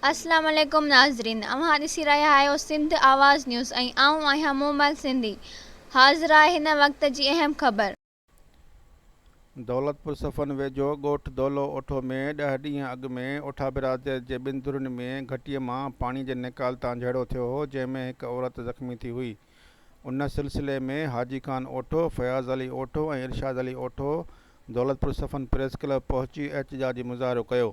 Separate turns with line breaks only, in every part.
السلام عليڪم ناظرين اوهان ڏسي رهيا آهيو سنڌ آواز نيوز ۽ آئون آهيان مومل سنڌي حاضر آهي هن وقت جي اهم خبر. دولتپور
صفن ويجهو ڳوٺ دولو اوٺو ۾ ڏهه ڏينهن اڳ ۾ اوٺا برادريت جي ٻن ڌرين ۾ گهٽي مان پاڻي جي نيڪال تان جهيڙو ٿيو هو جنهن ۾ هڪ عورت زخمي ٿي هئي ان سلسلي ۾ حاجي خان اوٺو فياض علي اوٺو ۽ ارشاد علي اوٺو دولتپور صفن پريس ڪلب پهچي احتجاجي مظاهرو ڪيو.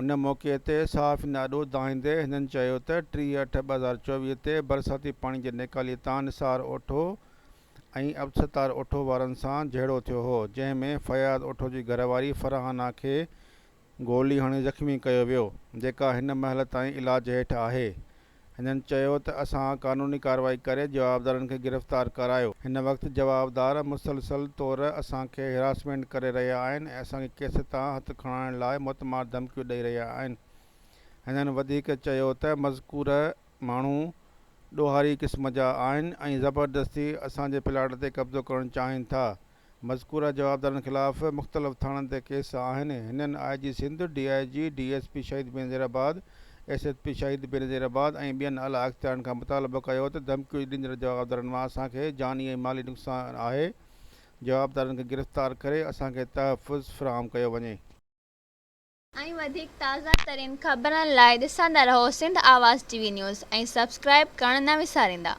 ان موقعي تي صحافين آڏو دانهيندي هنن چيو ته ٽيهه اٺ ٻه هزار چوويهه تي برساتي پاڻي جي نيڪالي تان نثار اوٺو ۽ عبدستار اوٺو وارن سان جهيڙو ٿيو هو جنهن ۾ فياض اوٺو جي گهرواري فرحانا کي گولي هڻي زخمي ڪيو ويو جيڪا هن مهل تائين علاج هيٺ آهي هنن چيو ته اسان قانوني ڪارروائي ڪري جوابدارن کي گرفتار ڪرايو، هن وقت جوابدار مسلسل طور اسان کي هراسمينٽ ڪري رهيا آهن ۽ اسان کي ڪيس تان هٿ کڻائڻ لاء موتمار ڌمڪيون ڏئي رهيا آهن. هنن وڌيڪ چيو ته مذڪوره ماڻهو ڏوهاري قسم جا آهن ۽ زبردستي اسان جي پلاٽ تي قبضو ڪرڻ چاهين ٿا مذڪوره جوابدارن خلاف مختلف ٿاڻن تي ڪيس آهن، هنن I G Sindh, D I G, D S P Shaheed Benazirabad, S S P Shaheed Benazir آباد ۽ ٻين اعليٰ اختيارين کان مطالبو ڪيو ته ڌمڪيون ڏيندڙ جوابدارن مان اسان کي جاني ۽ مالي نقصان آهي، جوابدارن کي گرفتار ڪري اسان کي تحفظ فراهم ڪيو وڃي. ۽
وڌيڪ تازه ترين خبرن لاء ڏسندا رهو Sindh Awaz TV news ۽ subscribe ڪرڻ نه وساريندا.